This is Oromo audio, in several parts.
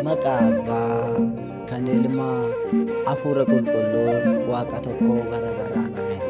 Maqaa Abbaa, kan Ilmaa, Hafuura Qulqulluu, Waaqa tokkoo bara baraan ameen.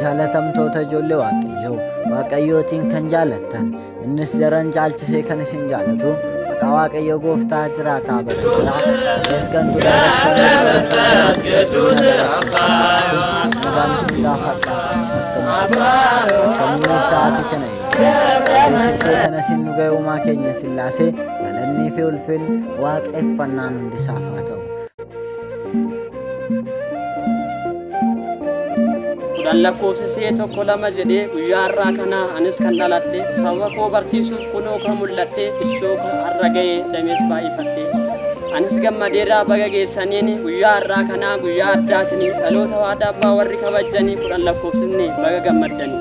Jaalatamtoota ijoollee Waaqayyoo, Waaqayyootiin kan jaalattan, innis daran caalchisee kan isin jaalatu, maqaa Waaqayyoo gooftaa jiraataa bara baraa, ta'es kan ture, ta'es kan nagaan isin gaafadha. Akkamitti? Akkamiin sa'aatii kana Beeksisee kana isin nu ga'e uumaa keenya sillaasee galannii fi ulfin waaqeffannaan hundisaaf haa ta'u. kudhan lakkoofsisee tokko lama jedhee guyyaa har'aa kana anis kan dhaladhe saba koo barsiisuuf kunoo kan mul'adhe ishoo kan har'a ga'e damees baay'ifadhe anis gammadeerraa baga geessaniin guyyaa har'aa kanaa guyyaa addaatiin dhaloota waadaa abbaa warri kabajjanii kudhan lakkoofsisne baga gammaddanii.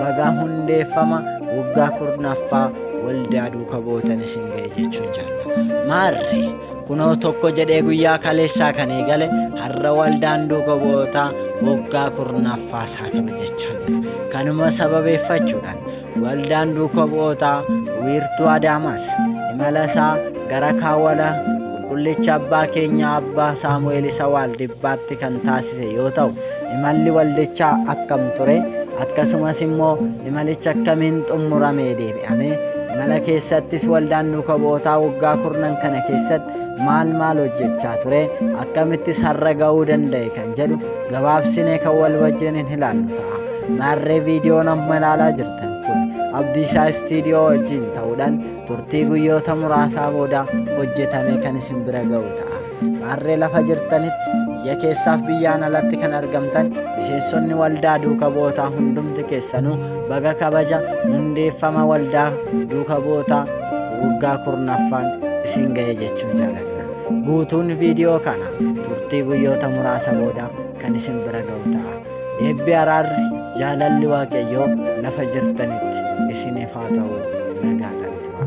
bagaa hundeeffama waggaa kurnaffaa waldaa duuka bootan isin ga'e jechuun jaallata. Maarree kunoo tokko jedhee guyyaa kaleessaa kan eegale har'a waldaan duuka bootaa waggaa kurnaffaa isaa kabajachaa jira. Kanuma sababeeffachuudhaan Waldaan Duuka Bu'ootaa wiirtuu Adaamaas imala isaa gara kaawwala Qulqullicha Abbaa keenya Abbaa Saamu'eel isa Waaldibbaatti kan taasise yoo ta'u, imalli waldichaa akkam ture? Akkasumas immoo imalichi akkamiin xumuramee deebi'ame? Imala keessattis waldaan Duuka Bu'ootaa waggaa kurnan kana keessatti maal maal hojjechaa ture? Akkamittis har'a ga'uu danda'e kan jedhu gabaabsinee kan wal wajjin hin ilaallu ta'a. Maarree viidiyoon amma ilaalaa jirtan kun Abdiisaa Istiidiyoo wajjin ta'uudhaan turtii guyyoota muraasaa booda hojjetame kan isin bira ga'u ta'a. Maarree lafa jirtanitti biyya keessaaf biyyaan alatti kan argamtan miseensonni waldaa duuka bootaa hundumti keessanuu baga kabaja hundeeffama waldaa duuka bootaa waggaa kurnaffaan isin ga'e jechuu jaaladha. Guutuun viidiyoo kana turtii guyyoota muraasa booda kan isin bira ga'u ta'a. Eebbi araarri jaalalli waaqayyoo lafa jirtanitti isiniif haa ta'u nagaadhaan tura.